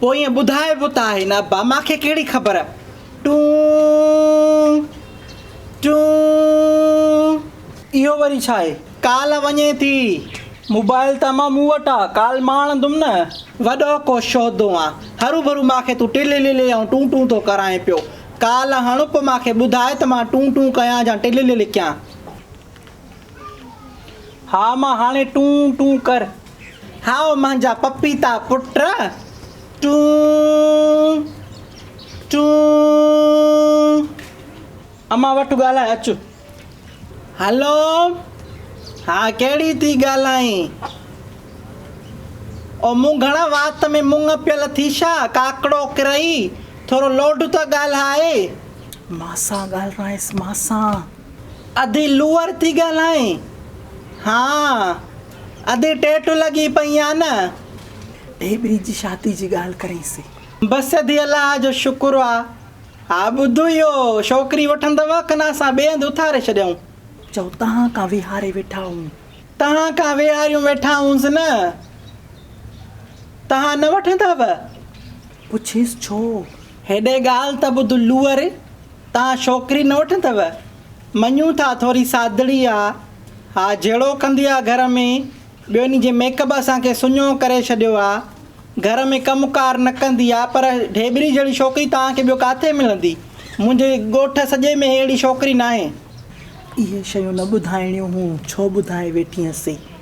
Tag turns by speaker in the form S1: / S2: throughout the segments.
S1: پوء ائين ٻڌائبو ته آهي نه ابا مان کي ڪهڙي خبر. ٽون ٽون. اهو وري ڇا آهي؟ ڪال وڃي ٿي. موبائل ته امان مون وٽ آ، ڪال مان آڻندم نه. وڏو ڪو شودو آن. هروڀرو مان کي تون ٽلللي ۽ ٽون ٽون ٿو ڪرائين پيو. ڪال هڻ پوء مان کي ٻڌاء ته مان ٽون ٽون ڪيان جا ٽلللي ڪيان. ها مان هاڻي ٽون ٽون ڪر. هائو مانجا پپيتا پٽ ٽون ٽون. امان وٺ ڳالهاء اچ. هلو ها ڪهڙي ٿي ڳالهائين. او مون گهڻا وات ۾ مڱ پيل ٿي ڇا ڪاڪڙو ڪرئي ٿورو لوڍ ته ڳالهاء. مان سان ڳالهائينس مان سان. ادي لوئر ٿي ڳالهائين ها ادي ٽيٽ لڳي پئي آ نه. ڍيٻري جي شادي جي ڳالهه ڪرين سي. بس ادي الله جو شڪر آ. ها ٻڌ اهو شوڪري وٺندؤ ڪن اسان ٻئي هنڌ اٿاري ڇڏيائون. چئو تهان ڪان ويهاري ويٺا هئون. تهان ڪان ويهاريون ويٺا هئونس نه تهان نه وٺندؤ. پڇيس ڇو؟ هيڏي ڳالهه ته ٻڌ لوئر، تان شوڪري نه وٺندؤ؟ مڃون ٿا ٿوري سادڙي آ. ها جهيڙو ڪندي آ گهر ۾، ٻيو ان جي ميڪ اپ اسان کي سڃو ڪري ڇڏيو آ. گهر ۾ ڪم ڪار نه ڪندي آ، پر ڍيٻري جهڙي شوڪري توهان کي ٻيو ڪاٿي ملندي؟ منهنجي ڳوٺ سڄي ۾ ههڙي شوڪري ناهي. اهي شيون نه ٻڌائڻيون هون، ڇو ٻڌائي ويٺينء سي؟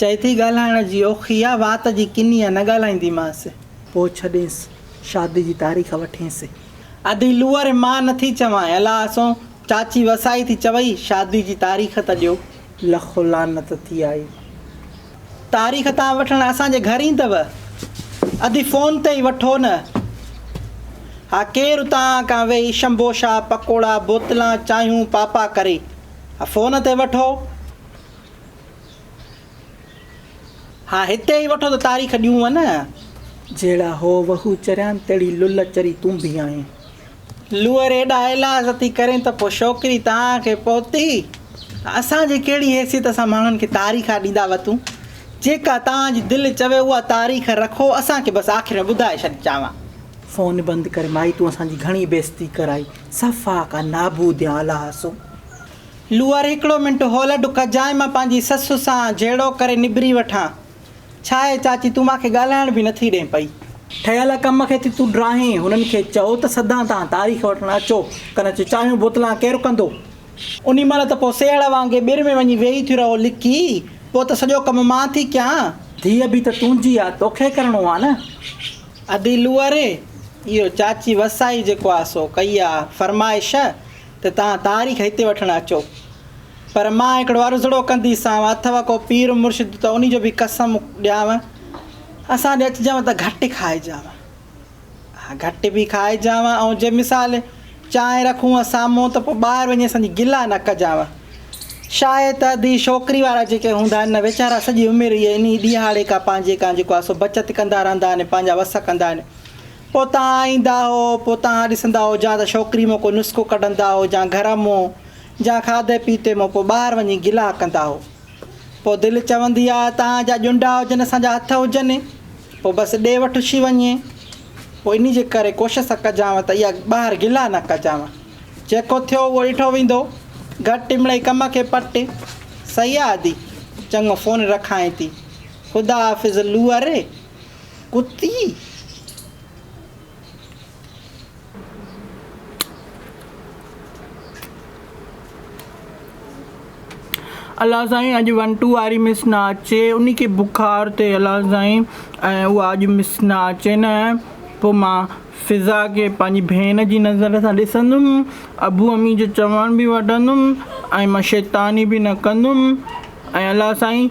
S1: چئي ٿي ڳالهائڻ جي اوکي آ، وات جي ڪني آ، نه ڳالهائينديمانس. پوء ڇڏينس، شادي جي تاريخ وٺينس. ادي لوئر مان نه ٿي چوانء، الا اسون چاچي وسائي ٿي چوئي، شادي جي تاريخ ته ڏيو. لخ لعنت ٿي آئي، تاريخ تان وٺڻ اسان جي گهر ايندوء؟ ادي فون تي ئي وٺو نه. ها ڪير اتان آ ڪان ويهي شمبوشا، پڪوڙا، بوتلان، چانهيون، پاپا ڪري. ها فون تي وٺو. ها هتي ئي وٺو ته تاريخ ڏيون نه. جهڙا هو وهو چريان تهڙي لل چري تون به آهين. لوئر ايڏا ايلاز ٿي ڪرين ته پوء شوڪري توهان کي پهتي ته اسان جي ڪهڙي حيثيت سان ماڻهن کي تاريخ آ ڏيندا وتون جيڪا توهان جي دل چوي اها تاريخ رکو اسان کي بس آخر ۾ ٻڌائي ڇڏ چانوان. فون بند ڪر مائي تون اسان جي گهڻي بيستي ڪرائي صفا ڪا نابود يا الهاسو. لوئر هڪڙو منٽ هول ڊڪ جانء مان پنهنجي سس سان جهيڙو ڪري نبري وٺان. ڇاهي چاچي تون مان کي ڳالهائڻ به نٿي ڏين پئي. ٺهيل ڪم کي ٿي تون ڊاهين. هنن کي چئو ته سدان تان تاريخ وٺڻ اچو. ڪن اچ چانهيون بوتلان ڪير ڪندو. انهي مهل ته پوء سيهڙ وانگي ٻر ۾ وڃي ويهي ٿيون رهو لڪي. پوء ته سڄو ڪم مان ٿي ڪيان. ڌيء به ته تنهنجي آ توکي ڪرڻو آ نه. ادي لوئر اهو چاچي وسائي جيڪو آ سو ڪئي آ فرمائش. ته توهان تاريخ هتي وٺڻ اچو پر مان هڪڙو عرضڙو ڪنديسانو اٿو ڪو پير مرشد ته انهي جو به قسم ڏيانو اسان ڏي اچجانو ته گهٽ کائجانو ها گهٽ به کائجانو ۽ جي مثال چانهه رکونء سامهون ته پوء ٻاهر وڃي اسان جي گلا نه ڪجانو شاهي ته ادي شوڪري وارا جيڪي هوندا آهن نه ويچارا سڄي عمر اهي انهي ڏيهاڙي ڪا پنهنجي ڪا جيڪو آهي سو بچت ڪندا رهندا آهن پنهنجا وس ڪندا آهن پوء تان ايندا هو، پوء تان ڏسندا هو جان ته ڇوڪري مون ڪو نسخو ڪڍندا هو جان گهرم مون جان کاڌي پيتي مون پوء ٻاهر وڃي گلا ڪندا هو. پوء دل چوندي آ تان جا ڄنڊا هجن اسان جا هٿ هجن پوء بس ڏي وٺ ڇي وڃي پوء انهي جي ڪري ڪوشس ڪجانء ته اها ٻاهر گلا نه ڪجانء جيڪو ٿيو اهو ڏٺو ويندو گهٽ مڙئي ڪم کي پٽ صحيح آ ادي چڱو فون رکانء ٿي خدا حافظ لوء ري. ڪتي! الله سائين اڄ ون ٽو واري مس نه اچي انهي کي بخار تي الله سائين ۽ اها اڄ مس نه اچي نه پو مان فضا کي پنهنجي ڀيڻ جي نظر سان ڏسندم ابو امي جو چوڻ به وٺندم ۽ مان شيطاني به نه ڪندم ۽ الله سائين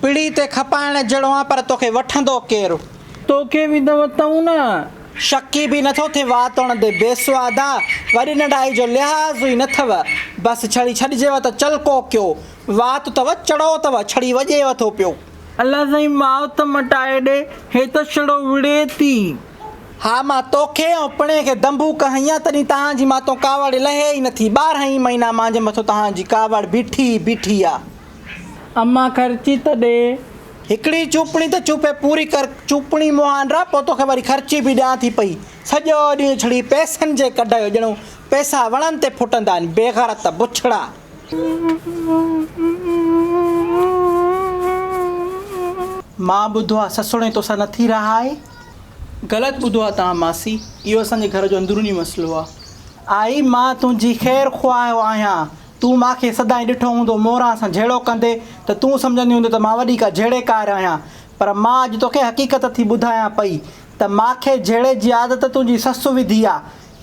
S1: پڙي تي کپائڻ جهڙو آن پر توکي وٺندو ڪير؟ توکي به ته وتئون نه. شڪي به نٿو ٿي وات توڻ تي بيسواد آ. وڏي ننڍائي جو لحاظ ئي نٿئو. بس ڇڙي ڇڏجيو ته چل ڪوڪيو. وات ته وه چڙو ته وه ڇڙي وڄيو ٿو پيو. الله سائين ماء ته مٽائي ڏي. هي ته ڇڙو وڙهي ٿي. ها مان توکي ۽ پڻي کي دنبوڪ هنيان تڏهين تهان جي ماتئون ڪاوڙ لهي ئي نٿي. ٻارهن ئي مهينا مانجهي مٿو تهان جي ڪاوڙ بيٺي ئي بيٺي آ. امان خرچي ته ڏي. هڪڙي چوپڻي ته چوپي پوري ڪر. چوپڻي مون آنڊرا پوء توکي وري خرچي به ڏيان ٿي پئي. سڄو ڏينهن ڇڙي پئسن جي ڪڍ ڪيو ڄڻو پئسا وڻن تي ڦٽندا آهن. بيغيرت بڇڙا. مان ٻڌو آ سسڻي توسان نٿي رهائي. غلط ٻڌو آ توهان ماسي. اهو اسان جي گهر جو اندروني مسئلو آ. آئي مان تنهنجي خير خواهه آهيان. تون مان کي سدائين ڏٺو هوندو موران سان جهيڙو ڪندي ته تون سمجهندي هوندي ته مان وڏي ڪا جهيڙيڪار آهيان پر مان اڄ توکي حقيقت ٿي ٻڌايان پئي ته مان کي جهيڙي جي عادت تنهنجي سس وڌي آ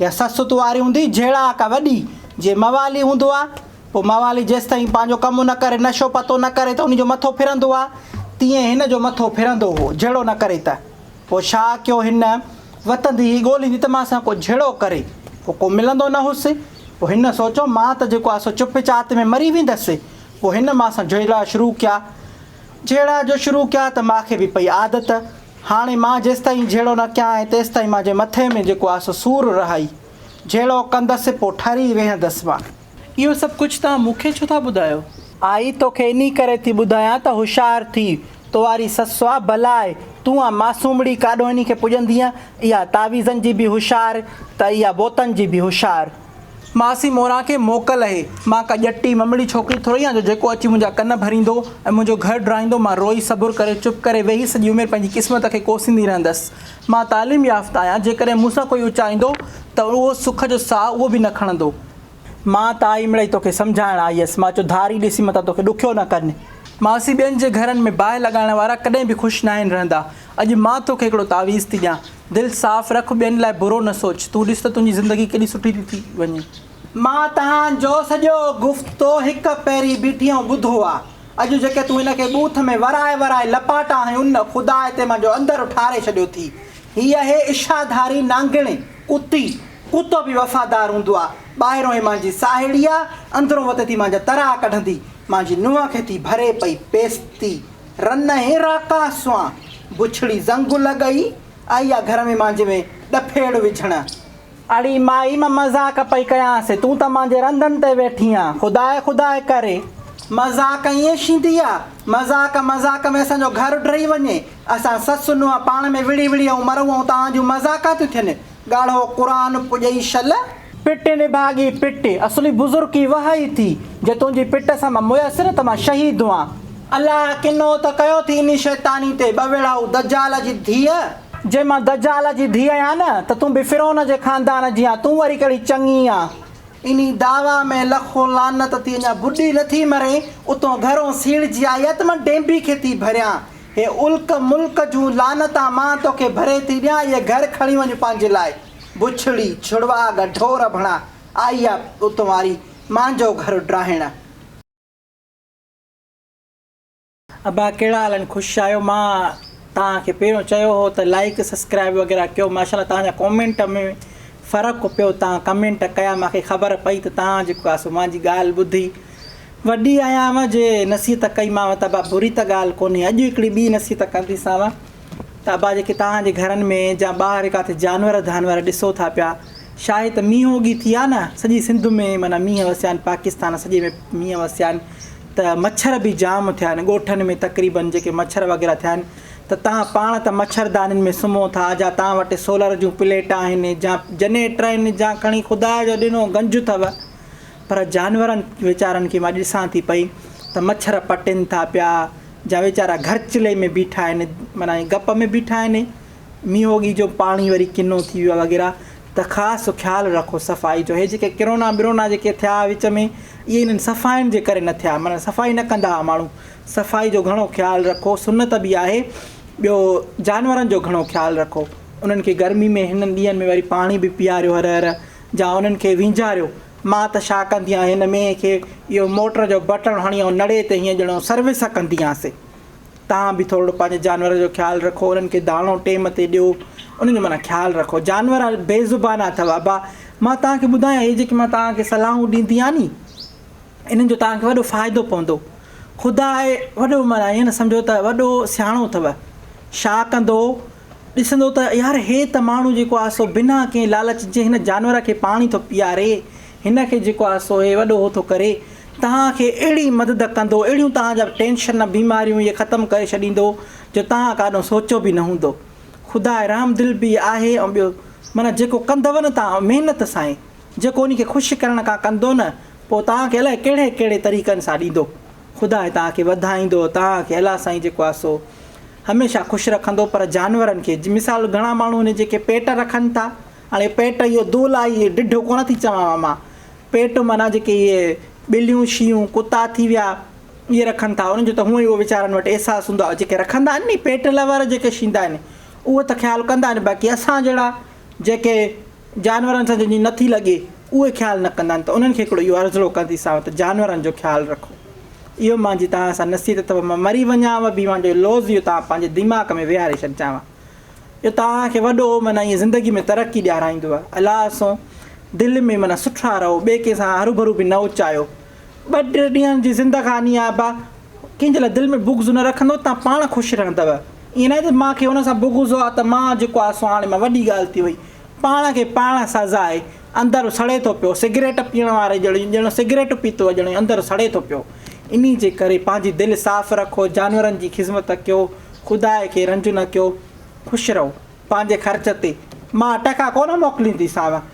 S1: يا سس تون آري هوندي جهيڙا ڪا وڏي جي موالي هوندو آ پو موالي جيستائين پنهنجو ڪم نه ڪري نشو پتو نه ڪري ته انهي جو مٿو ڦرندو آ تيئن هن جو مٿو ڦرندو هو جهيڙو نه ڪري ته. پوء ڇا ڪيو هن؟ وتندي هي ڳوليندي ته مان سان ڪو جهيڙو ڪري. پوء ڪو ملندو نه هوس. پوء هن سوچيو مان ته جيڪو آهي سو چپ چات ۾ مري ويندس. پوء هن مان سان جهيڙا شروع ڪيا. جهيڙا جو شروع ڪيا ته مان کي به پئي عادت. هاڻي مان جيستائين جهيڙو نه ڪيان ۽ تيستائين مانجي مٿي ۾ جيڪو آهي سو سور رهائي. جهيڙو ڪندس پوء ٺري ويهندس مان. اهو سڀ ڪجهه توهان مون کي ڇو ٿا ٻڌايو؟ آء توکي انهي ڪري ٿي ٻڌايان ته هوشيار ٿي. تو واري سس آ بلاء. تون آ معصومڙي ڪاڏو انهي کي پڄندينء. اها تعويذن جي به هوشيار ته اها بوتن جي به هوشيار. ماسي موران کي موڪل اهي. مان ڪا ڄٽي ممڙي ڇوڪري ٿورئي آهيان جو جيڪو اچي منهنجا ڪن ڀريندو ۽ منهنجو گهر ڊاهيندو مان روئي صبر ڪري چپ ڪري ويهي سڄي عمر پنهنجي قسمت کي ڪوسيندي رهندس. مان تعليم يافته آهيان جيڪڏهن مون سان ڪوئي اچائيندو ته اهو سک جو ساهه اهو به نه کڻندو. مان تائي مڙئي توکي سمجهائڻ آئي هيس. مان چيو، ڌاري ڏسي متان توکي ڏکيو نه ڪن. ماسي ٻين جي گهرن ۾ باهه لڳائڻ وارا ڪڏهن به خوش ناهن رهندا. اڄ مان توکي هڪڙو تعويذ ٿي ڏيان. دل صاف رک، ٻين لاء برو نه سوچ. تون ڏس ته تنهنجي زندگي ڪيڏي سٺي ٿي ٿي وڃي. مان تنهان جو سڄو گفتو هڪ پهرين بيٺيئون ٻڌو آ. اڄ جيڪي تون هن کي ٻوٿ ۾ ورائي ورائي لپاٽا هنيون نه، خدا هتي منهنجو اندر ٺاري ڇڏيو ٿي. هي اهي اشاڌاري نانگڻي، ڪتي، ڪتو به وفادار هوندو آ، ٻاهرون هي مانجي ساهيڙي آ، اندرون وت ٿي مانجا ترها ڪڍندي، مانجي نونهن کي ٿي ڀري پئي پيستي. رنهين راڪا سوان بڇڙي زنگ لڳئي آئي آ گهر ۾ مانجي ۾ ڏڦيڙ وجهڻ. اڙي مائي مان مذاق پئي ڪيانس، تون ته مانجي رندن تي ويٺي آن، خداء خداء ڪري. مذاق ائين شيندي آ، مذاق مذاق ۾ اسان جو گهر ڊهي وڃي، اسان سس نونهن پاڻ ۾ وڙهي وڙهي ائون مرون ائون توهان جون مذاقا ٿيون ٿين، ڳاڙهو قرآن پڄئي شل. پٽ نڀاڳي پٽ، اصلي بزرڪي وهه ئي ٿي، جي تنهنجي پٽ سان مان ميسر ته مان شهيد هئان. الله ڪنو ته ڪيو ٿي انهي شيطاني تي ٻه ويڙها هو دجال جي ڌيء. جي مان دجال جي ڌيء آهيان نه ته تون به فرعون جي خاندان جي آن، تون وري ڪهڙي چڱي آن. انهي دعويٰ ۾ لکون لعنت ٿي اڃا ٻڏي نه ٿي مرين، اتون گهرون سيڙجي آئي آ ته مان ڊينبي کي ٿي ڀريان، هي الڪ ملڪ جون لعنتان مان توکي ڀري ٿي ڏيان اهي گهر کڻي وڃ پنهنجي لاء بڇڙي ڇڙواڳ ڍور ڀڻا آئي آ اتون واري مانجو گهر ڊاهڻ. ابا ڪهڙا حال آهن خوش آهيو مان توهان کي پهريون چيو هو ته لائيڪ سسڪرائيب وغيره ڪيو ماشاالله توهان جا ڪومينٽ ۾ فرق پيو توهان ڪمينٽ ڪيا مانکي خبر پئي ته توهان جيڪو آ سو مانجي ڳالهه ٻڌي وڏي آهيانء جي نصيحت ڪئيمانء ته ابا بري ته ڳالهه ڪونهي، اڄ هڪڙي ٻي نصيحت ڪنديسانء ته ابا جيڪي توهان جي گهرن ۾ جا ٻاهر ڪاٿي جانور ڌانور ڏسو ٿا پيا، شاهي ته مينهن اوڳي ٿي آ نه، سڄي سنڌ ۾ معنيٰ مينهن وسيا آهن، پاڪستان سڄي ۾ مينهن وسيا آهن ته مڇر به جام ٿيا آهن، ڳوٺن ۾ تقريبن جيڪي مڇر وغيره ٿيا آهن ته توهان پاڻ ته مڇردانين ۾ سمهو ٿا، جا توهان وٽ سولر جون پليٽ آهن، جا جنيٽر آهن، جا کڻي خدا جو ڏنو گنج اٿو، پر جانورن ويچارن کي مان ڏسان ٿي پئي ته مڇر پٽين ٿا پيا جا ويچارا گهرچلي ۾ بيٺا آهن معنيٰ گپ ۾ بيٺا آهن مينهوڳي جو پاڻي وري ڪنو ٿي ويو وغيره ته خاص خيال رکو صفائي جو هي جيڪي ڪرونا برونا جيڪي ٿيا وچ ۾ اهي انهن صفائين جي ڪري نه ٿيا معنيٰ صفائي نه ڪندا هئا ماڻهو صفائي جو گهڻو خيال رکو سنت به آهي ٻيو جانورن جو گهڻو خيال رکو انهن کي گرمي ۾ هنن ڏينهن ۾ وري پاڻي به پياريو هر هر جا انهن کي وينجهاريو. مان ته ڇا ڪندي آهيان هن مينهن کي اهو موٽر جو بٽڻ هڻي ائون نڙي تي هيئن ڄڻو سروس ڪنديانس. تهان به ٿورڙو پنهنجي جانورن جو خيال رکو انهن کي داڻو ٽيم تي ڏيو انهن جو معنيٰ خيال رکو جانور بي زبان اٿو ابا مان تهان کي ٻڌايان هي جيڪي مان تهان کي صلاحون ڏيندي آهيان ني انهن جو تهان کي وڏو فائدو پوندو خدا آهي وڏو معنيٰ ايئن نه سمجهو ته وڏو سياڻو اٿو ڇا ڪندو ڏسندو ته يار هي ته ماڻهو جيڪو آهي سو بنا ڪنهن لالچ جي هن جانور کي پاڻي ٿو پياري، هن کي جيڪو آهي سو هي وڏو هو ٿو ڪري، توهان کي اهڙي مدد ڪندو، اهڙيون توهان جا ٽينشن، بيماريون هيء ختم ڪري ڇڏيندو، جو توهان ڪاڏهن سوچيو به نه هوندو. خدا رحم دل به آهي ۽ ٻيو معنيٰ جيڪو ڪندؤ نه توهان محنت سائين، جيڪو ان کي خوش ڪرڻ ڪا ڪندو نه، پوء توهان کي الائي ڪهڙي ڪهڙي طريقن سان ڏيندو. خدا هي توهان کي وڌائيندو توهان کي الله سائين جيڪو آهي سو هميشه خوش رکندو پر جانورن کي مثال گهڻا ماڻهو هن جيڪي پيٽ رکن ٿا هاڻي پيٽ اهو دول آهي اهو ڊڍو ڪونه ٿي چوان مان پيٽ معنيٰ جيڪي اهي ٻليون شيون ڪتا ٿي ويا اهي رکن ٿا انهن جو ته هونئن ئي اهو ويچارن وٽ احساس هوندو آهي جيڪي رکندا آهن ني پيٽ لور جيڪي شيندا آهن اهو ته خيال ڪندا آهن باقي اسان جهڙا جيڪي جانورن سان جن جي نه ٿي لڳي، اهي خيال نه ڪندا آهن ته انهن کي هڪڙو اهو عرضلو ڪنديسانو ته جانورن جو خيال رکو. اهو مان جي توهان سان نصيحت اٿو مان مري وڃانء به مان جو لوظ اهو توهان پنهنجي ديماغ ۾ ويهاري ڇڏجانء. اهو توهان کي وڏو معنيٰ ائين زندگي ۾ ترقي ڏيارائيندوء. الله سون دل ۾ معنيٰ سٺا رهو، ٻئي ڪنهن سان هروڀرو به نه اچايو. ٻه ٽي ڏينهن جي زندگاني آهي با ڪنهن جي لاء دل ۾ بغض نه رکندو توهان پاڻ خوش رهندؤ ائين ناهي ته مان کي ان سان بغض هو ته مان جيڪو آهي سو هاڻي مان وڏي ڳالهه ٿي وئي پاڻ کي پاڻ سزا آهي اندر سڙي ٿو پيو سگريٽ پيئڻ واري ڄڻي ڄڻ سگريٽ پيتو آهي ڄڻي اندر سڙي ٿو پيو انهي جي ڪري پنهنجي دل صاف رکو جانورن جي خذمت ڪيو خداء کي رنج نه ڪيو خوش رهو پنهنجي خرچ تي مان ٽڪا ڪونه موڪلينديسانو